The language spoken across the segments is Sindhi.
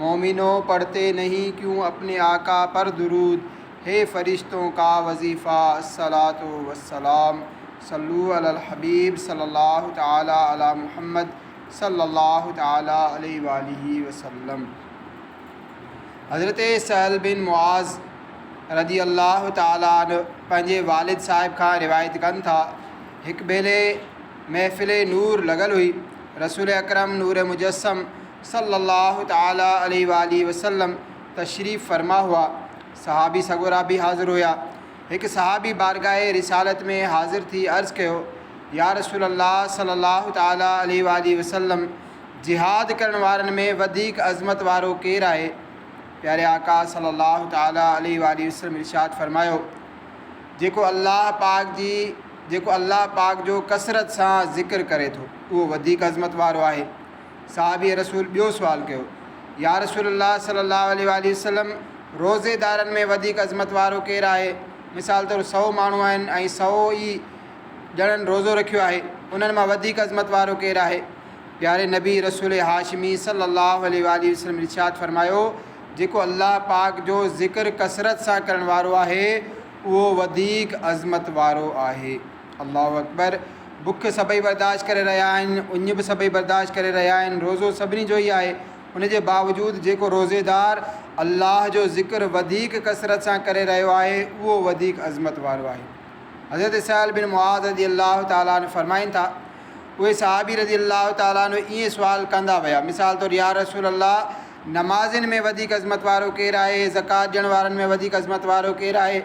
مومنو پڙھتي نھين ڪيون اپني آقا پر درود ھي فرشتون ڪا وظيفه الصلوۃ والسلام صلو علی الحبیب صلی الله تعالی علی محمد صلی الله تعالی علیہ وآلہ وسلم حضرت سھل بن معاذ رضي الله تعالٰي عنه پنھنجي والد صاحب کان روايت ڪن ٿا ھڪ ڀيري محفل نور لڳل ھئي رسول اڪرم نور مجسم صلّي اللّٰه تعالٰي عليه واٰله وسلّم تشريف فرما هئا. صحابي سڳورا به حاضر هيا. هڪ صحابي بارگاهه رسالت ۾ حاضر ٿي عرض ڪيو، يا رسول الله صلّي اللّٰه تعالٰي عليه واٰله وسلّم! جهاد ڪرڻ وارن ۾ وڌيڪ عظمت وارو ڪير آهي؟ پياري آقا صلّي اللّٰه تعالٰي عليه واٰله وسلّم ارشاد فرمايو، جيڪو الله پاڪ جي جيڪو الله پاڪ جو ڪثرت سان ذڪر ڪري ٿو، اهو وڌيڪ عظمت وارو آهي. صحابي رسول ٻيو سوال ڪيو، يا رسول الله صلّي الله عليه واٰله وسلّم! روزي دارن ۾ وڌيڪ عظمت وارو ڪير آهي؟ مثال طور سؤ ماڻهو آهن ۽ سؤ ئي ڄڻن روزو رکيو آهي، انهن مان وڌيڪ عظمت وارو ڪير آهي؟ پياري نبي رسول هاشمي صلّي الله عليه واٰله وسلّم ارشاد فرمايو، جيڪو الله پاڪ جو ذڪر ڪثرت سان ڪرڻ وارو آهي، اهو وڌيڪ عظمت وارو آهي. الله اڪبر بک سڀئي برداشت ڪري رهيا آهن، اڃ به سڀئي برداشت ڪري رهيا آهن، روزو سڀني جو ئي آهي، ان جي باوجود جيڪو روزيدار الله جو ذڪر وڌيڪ ڪثرت سان ڪري رهيو آهي اهو وڌيڪ عظمت وارو آهي. حضرت سهل بن معاذ رضي الله تعالٰي عنه فرمائن ٿا، اهي صحابي رضي الله تعالٰي عنه ائين سوال ڪندا ويا، مثال طور يا رسول الله نمازين ۾ وڌيڪ عظمت وارو ڪير آهي؟ زڪوات ڏيڻ وارن ۾ وڌيڪ عظمت وارو ڪير آهي؟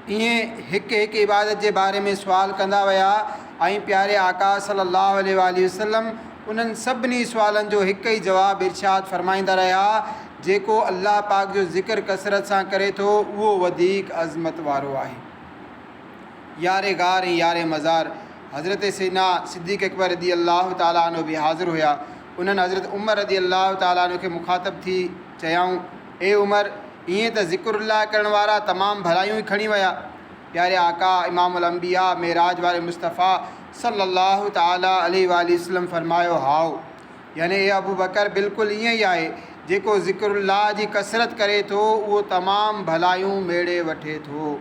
ائين هڪ هڪ عبادت جي باري ۾ سوال ڪندا ويا ۽ پياري آقا صلّي اللّٰه عليه واٰله وسلّم انهن سڀني سوالن جو هڪ ئي جواب ارشاد فرمائيندا رهيا، جيڪو الله پاڪ جو ذڪر ڪثرت سان ڪري ٿو اهو وڌيڪ عظمت وارو آهي. يار غار ۽ يار مزار حضرت سيدنا صديق اڪبر رضي الله تعالٰي عنه به حاضر هيا، انهن حضرت عمر رضي الله تعالٰي عنه کي مخاطب ٿي چيائون، اي عمر! ائين ته ذڪر الله ڪرڻ وارا تمام ڀلايون ئي کڻي ويا. پياري آقا امام الانبياء معراج واري مصطفيٰ صلّي الله تعالٰي عليه واٰله وسلّم فرمايو، هائو! يعني اي ابوبڪر بلڪل ائين ئي آهي، جيڪو ذڪر الله جي ڪثرت ڪري ٿو، اهو تمام ڀلايون ميڙي وٺي ٿو.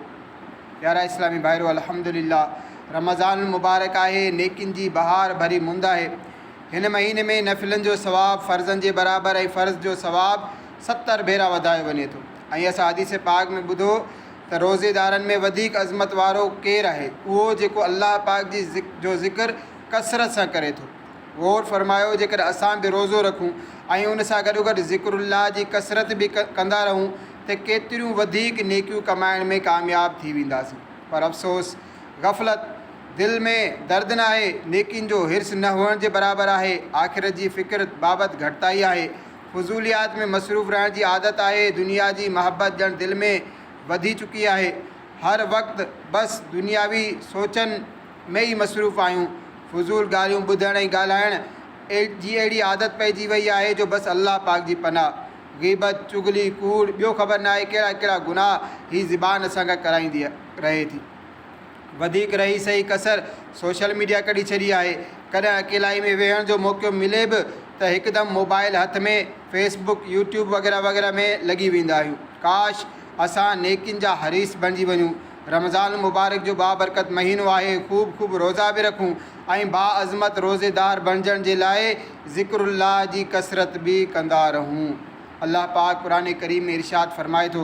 پيارا اسلامي ڀائرو! الحمدلله رمضان المبارڪ آهي، نيڪين جي بهار ڀري مند آهي. هن مهيني ۾ نفلن جو ثواب فرضن جي برابر ۽ فرض جو ثواب ستر ڀيرا وڌايو وڃي ٿو ۽ اسان حديث پاڪ ۾ ٻڌو ته روزيدارن ۾ وڌيڪ عظمت وارو ڪير آهي؟ اهو جيڪو الله پاڪ جي جو ذڪر ڪثرت سان ڪري ٿو. غور فرمايو جيڪڏهن اسان به روزو رکون ۽ ان سان گڏوگڏ ذڪر الله جي ڪثرت به ڪندا رهون ته ڪيتريون وڌيڪ نيڪيون ڪمائڻ ۾ ڪامياب ٿي وينداسين پر افسوس! غفلت، دل ۾ درد ناهي، نيڪين جو حرص نه هئڻ جي برابر آهي، آخرت جي فڪر بابت گهٽتائي آهي، فضوليات ۾ مصروف رهڻ جي عادت آهي، دنيا جي محبت ڄڻ دل ۾ وڌي چڪي آهي، هر وقت بس دنياوي سوچن ۾ ئي مصروف آهيون، فضول ڳالهيون ٻڌڻ ۽ ڳالهائڻ جي اهڙي عادت پئجي وئي آهي جو بس الله پاڪ جي پناهه، غيبت، چغلي، ڪوڙ، ٻيو خبر ناهي ڪهڙا ڪهڙا گناهه هي زبان اسان کان ڪرائيندي. رهي ٿي. وڌيڪ رهي سهي ڪسر سوشل ميڊيا ڪڍي ڇڏي آهي. ڪڏهن اڪيلائي ۾ ويهڻ جو موقعو ملي به ته هڪدم موبائيل هٿ ۾ فيس بڪ، يوٽيوب وغيره وغيره ۾ لڳي ويندا آهيون. ڪاش! اسان نيڪين جا حريص بڻجي وڃون. رمضان المبارڪ جو بابرڪت مهينو آهي، خوب خوب روزا به رکون ۽ باعظمت روزيدار بڻجڻ جي لاء ذڪر الله جي ڪثرت به ڪندا رهون. الله پاڪ قرآن ڪريم ۾ ارشاد فرمائي ٿو.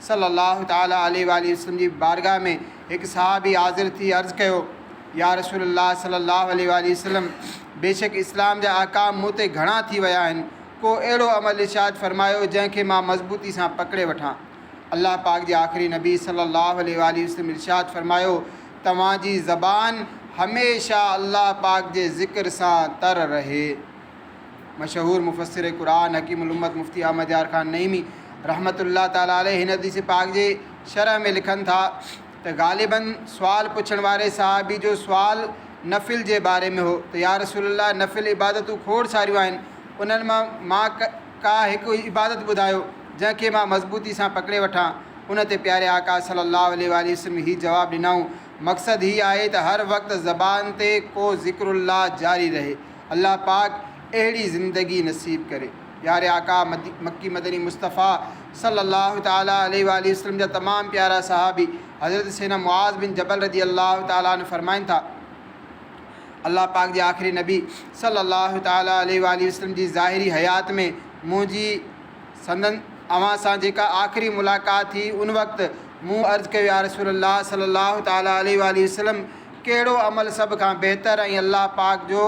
صلّي اللّٰه تعالٰي عليه واٰله وسلّم جي بارگاھ ۾ هڪ صحابي حاضر ٿي عرض ڪيو، يا رسول اللّٰه صلّي اللّٰه عليه واٰله وسلّم! بيشڪ اسلام جا احڪام مون تي گهڻا ٿي ويا آهن، ڪو اهڙو عمل ارشاد فرمايو جنهن کي مان مضبوطي سان پڪڙي وٺان. الله پاڪ جي آخري نبي صلّي اللّٰه عليه واٰله وسلّم ارشاد فرمايو، توهان جي زبان هميشه الله پاڪ جي ذڪر سان تر رهي. مشهور مفسر قرآن حڪيم الامت مفتي احمد يار خان نعيمي رحمة الله تعالٰي عليه هن حديث پاڪ جي شرح ۾ لکن ٿا ته غالباً سوال پڇڻ واري صحابي جو سوال نفل جي باري ۾ هو ته يا رسول الله نفل عبادتون کوڙ ساريون آهن انهن مان مان ڪا هڪ عبادت ٻڌايو جنهن کي مان مضبوطي سان پڪڙي وٺان ان تي پياري آقا صلّي اللّٰه عليه واٰله وسلّم هي جواب ڏنائون مقصد هي آهي ته هر وقت زبان تي ڪو ذڪر الله جاري رهي الله پاڪ اهڙي زندگي نصيب ڪري. پياري آقا مڪي مدني مصطفيٰ صلّي اللّٰه تعالٰي عليه واٰله وسلّم جا تمام پيارا صحابي حضرت سيدنا معاذ بن جبل رضي اللّٰه تعالٰي عنه فرمائن ٿا، الله پاڪ جي آخري نبي صلّي اللّٰه تعالٰي عليه واٰله وسلّم جي ظاهري حيات ۾ منهنجي سندن اوهان سان جيڪا آخري ملاقات ٿي ان وقت مون عرض ڪيو يا رسول الله صلّي اللّٰه تعالٰي عليه واٰله وسلّم! ڪهڙو عمل سڀ کان بهتر ۽ الله پاڪ جو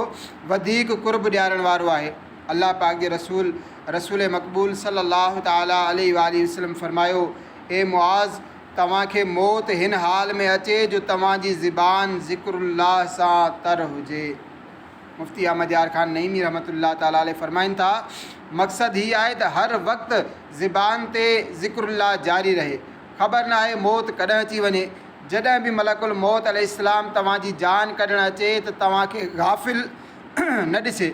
وڌيڪ قرب ڏيارڻ وارو آهي؟ الله پاڪ جي رسول، رسول مقبول صلّي الله تعالٰي عليه واٰله وسلّم فرمايو، اي معاذ! توهان کي موت هن حال ۾ اچي جو توهان جي زبان ذڪر الله سان تر هجي. مفتي احمد يار خان نعيمي رحمة الله تعالٰي عليه فرمائن ٿا، مقصد هي آهي ته هر وقت زبان تي ذڪر الله جاري رهي. خبر ناهي موت ڪڏهن اچي وڃي. جڏهن به ملڪ الموت عليه السلام توهان جي جان ڪڍڻ اچي ته توهان کي غافل نه ڏسي.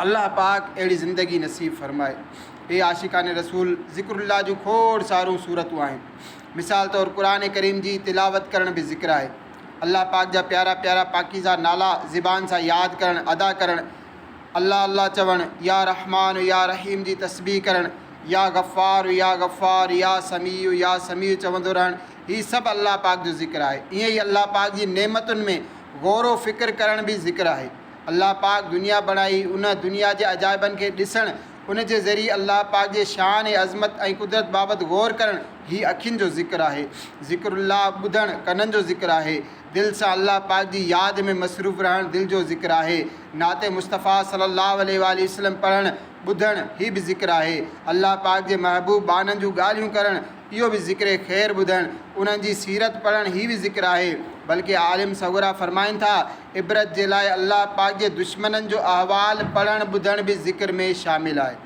الله پاڪ اهڙي زندگي نصيب فرمائي. اهي عاشقان رسول ذڪر الله جون کوڙ سارون سورتون آهن. مثال طور قرآن ڪريم جي تلاوت ڪرڻ به ذڪر آهي. الله پاڪ جا پيارا پيارا پاڪيزه نالا زبان سان ياد ڪرڻ، ادا ڪرڻ، الله الله چوڻ، يا رحمان يا رحيم جي تسبيح ڪرڻ، يا غفار يا غفار يا سميع يا سميع چوندو رهڻ، هي سڀ الله پاڪ جو ذڪر آهي. ائين ئي الله پاڪ جي نعمتن ۾ غور و فڪر ڪرڻ به ذڪر آهي. الله پاڪ دنيا بڻائي، ان دنيا جي عجائبن کي ڏسڻ، ان جي ذريعي الله پاڪ جي شان، عظمت ۽ قدرت بابت غور ڪرڻ هي اکين جو ذڪر آهي. ذڪر الله ٻڌڻ ڪنن جو ذڪر آهي. دل سان الله پاڪ جي ياد ۾ مصروف رهڻ دل جو ذڪر آهي. نعت مصطفيٰ صلّي اللّٰه عليه واٰله وسلّم پڙهڻ، ٻڌڻ هي به ذڪر آهي. الله پاڪ جي محبوب ٻانهن جون ڳالهيون ڪرڻ، اهو به ذڪر خير ٻڌڻ، انهن جي سيرت پڙهڻ هي به ذڪر آهي، بلڪه عالم صغريٰ فرمائن ٿا، عبرت جي لاء الله پاڪ جي دشمنن جو احوال پڙهڻ ٻڌڻ به ذڪر ۾ شامل آهي.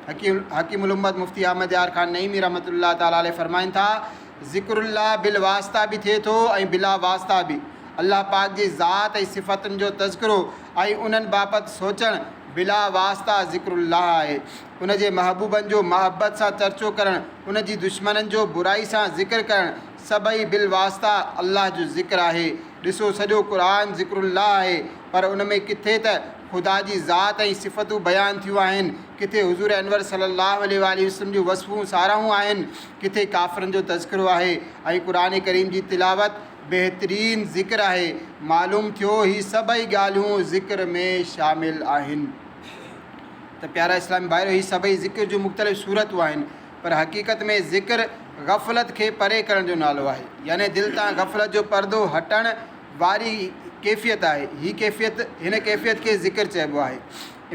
حڪيم الامت مفتي احمد يار خان نعيمي رحمة الله تعالٰي عليه فرمائن ٿا، ذڪر الله بالواسطه به ٿئي ٿو ۽ بلا واسطه به، الله پاڪ جي ذات ۽ صفتن جو تذڪرو ۽ انهن بابت سوچڻ بلا واسطه ذڪر الله آهي، ان جي محبوبن جو محبت سان چرچو ڪرڻ، ان جي دشمنن جو برائي سان ذڪر ڪرڻ، سڀئي بالواسطه الله جو ذڪر آهي. ڏسو سڄو قرآن ذڪر الله آهي، پر ان ۾ ڪٿي ته خدا جي ذات ۽ صفتون بيان ٿيون آهن، ڪٿي حضور انور صلّي اللّٰه عليه واٰله وسلّم جون وصفون ساراهون آهن، ڪٿي ڪافرن جو تذڪرو آهي ۽ قرآن ڪريم جي تلاوت بهترين ذڪر آهي. معلوم ٿيو هي سڀئي ڳالهيون ذڪر ۾ شامل آهن. ته پيارا اسلامي ڀائرو! هي سڀئي ذڪر جون مختلف صورتون آهن، پر حقيقت ۾ ذڪر غفلت کي پري ڪرڻ جو نالو آهي، يعني دل تان غفلت جو پردو هٽڻ واري ڪيفيت آهي، هي ڪيفيت هن ڪيفيت کي ذڪر چئبو آهي.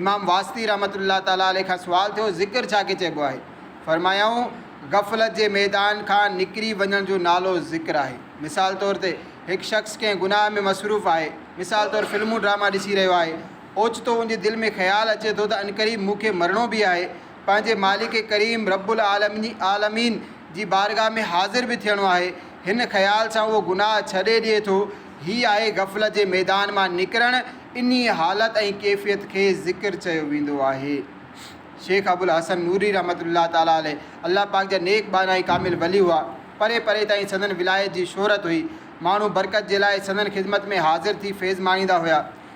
امام واسطي رحمة الله تعالٰي عليه کان سوال ٿيو، ذڪر ڇا کي چئبو آهي؟ فرمايائون، غفلت جي ميدان کان نڪري وڃڻ جو نالو ذڪر آهي. مثال طور تي هڪ شخص ڪنهن گناهه ۾ مصروف آهي، مثال طور فلمون ڊراما ڏسي رهيو آهي، اوچتو ان جي دل ۾ خيال اچي ٿو ته عنقريب مون کي مرڻو به آهي، پنهنجي مالڪ ڪريم رب العالمين جي بارگاهه ۾ حاضر به ٿيڻو آهي. هن خيال سان اهو گناهه ڇڏي ڏئي ٿو. هي آهي غفلت جي ميدان مان نڪرڻ. انهيء حالت ۽ ڪيفيت کي ذڪر چيو ويندو آهي. شيخ ابوالحسن نوري رحمة الله تعالٰي عليه الله پاڪ جا نيڪ ٻانها ۽ ڪامل ولي هئا. پري پري تائين سندن ولايت جي شهرت هئي. ماڻهو برڪت جي لاء سندن خدمت ۾ حاضر ٿي فيض ماڻيندا هيا.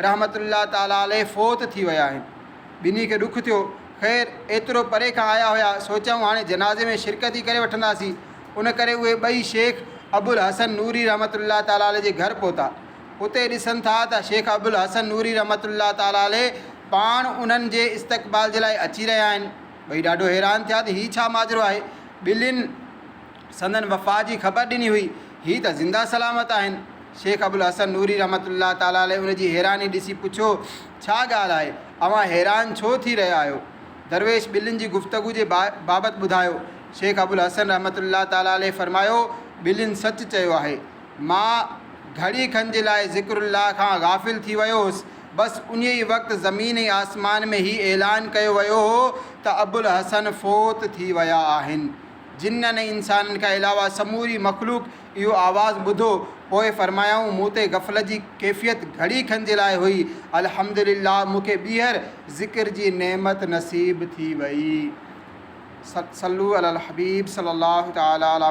رحمة الله تعالٰي عليه فوت ٿي ويا آهن. ٻنهي کي ڏک ٿيو. خير، ايترو پري کان آيا هيا، سوچيائون هاڻي جنازي ۾ شرڪت ئي ڪري وٺنداسين. ان ڪري اهي ٻئي شيخ ابوالحسن نوري رحمة الله تعالٰي عليه جي گهر پهتا. اتي ڏسن ٿا ته شيخ ابوالحسن نوري رحمة الله تعالٰي عليه پاڻ انهن جي استقبال جي لاء اچي رهيا آهن. ٻئي ڏاڍو حيران ٿيا ته هي ڇا ماجرو آهي. ٻنهين سندن وفات جي خبر ڏني هئي، هي ته زنده سلامت آهن. شيخ ابوالحسن نوري رحمة الله تعالٰي عليه ان جي حيراني ڏسي پڇيو، ڇا ڳالهه آهي، اوهان حيران ڇو ٿي رهيا آهيو؟ درويش ٻلين جي گفتگو جي بابت ٻڌايو. شيخ ابوالحسن رحمة الله تعالٰي عليه فرمايو، ٻلين سچ چيو آهي. مان گهڙي کن جي لاء ذڪر الله کان غافل ٿي ويو هوس، بس انهي ئي وقت زمين ۽ آسمان ۾ هي اعلان ڪيو ويو هو ته ابوالحسن فوت ٿي ويا آهن. جنن ۽ انسانن کان علاوه سموري مخلوق اهو آواز ٻڌو، پوء فرمايائون، مون تي غفلت جي ڪيفيت گهڙي کن جي لاء هئي، الحمد لله مون کي ٻيهر ذڪر جي نعمت نصيب ٿي وئي. صلّو علي الحبيب صلّي الله تعالٰي عليه.